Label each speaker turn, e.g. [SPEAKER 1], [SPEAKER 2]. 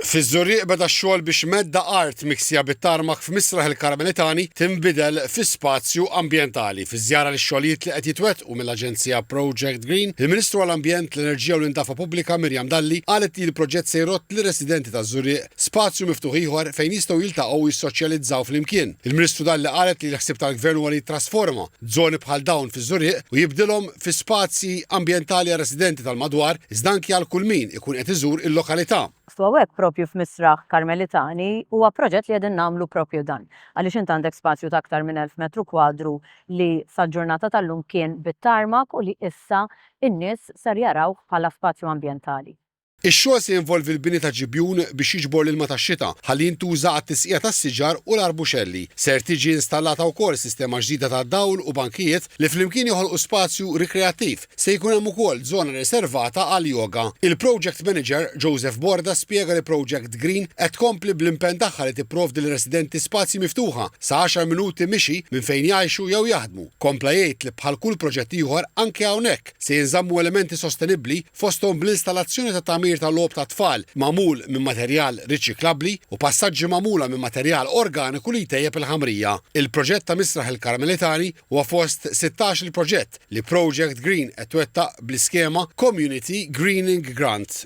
[SPEAKER 1] Fiż-Żurrieq beda x-xogħol biex medda art miksija bit-tarmak f'Misraħ il-Karmelitani tinbidel fi spazju ambjentali. Fi żjara lix-xogħlijiet li qed jitwettqu mill-aġenzija Project Green, il-Ministru għall-Ambjent, l-Enerġija u l-Indafa Pubblika Miriam Dalli qalet li l-proġett se jrodd lir-residenti taż-Żurrieq spazju miftuħ ieħor fejn jistgħu jiltaqgħu u jissoċjalizzaw flimkien. Il-Ministru Dalli qalet li l-ħsieb tal-Gvern huwa li jittrasforma żoni bħal dawn fiż-Żurrieq u jibdilhom fi spazji ambjentali għar-residenti tal-madwar iżda anki għal kull min ikun qed iżur il-lokalità. Sewwek proprju
[SPEAKER 2] f'Misraħ Karmelitani huwa proġett li qegħdin nagħmlu proprju dan, għaliex int għandek spazju ta' aktar minn elf metru kwadru li sal-ġurnata tal-lum kien bit-tarmak u li issa n-nies ser jarawh bħala spazju ambjentali. Ix-xogħol se
[SPEAKER 1] jinvolvi l-bini ta' ġibjun biex jiġbor l-ilma tax-xita ħalli jintuża għat-tisqija tas-siġar u l-arbuxelli. Ser tiġi installata wkoll sistema ġdida ta' dawl u bankijiet li flimkien joħolqu spazju rikreattiv. Se jkun hemm ukoll żona riservata għall-yoga. Il-Project Manager, Joseph Borda spjega li Project Green qed tkompli bl-impenn tagħha li tipprovdi lir-residenti spazji miftuħa sa għaxar minuti mixi minn fejn jgħixu jew jaħdmu. Kompla jgħid li bħal kull proġett ieħor anke hawnhekk, Se jinżammu elementi sostenibbli, fosthom bl-installazzjoni ta' tagħmir ta' logħob tat-tfal magħmul minn materjal riċiklabbli u passaġġi magħmula minn materjal organiku li jtejjeb il-ħamrija. Il-proġett ta' Misraħ il-Karmelitani huwa fost sittax-il proġett li Project Green qed twettaq bl-iskema Community Greening Grant.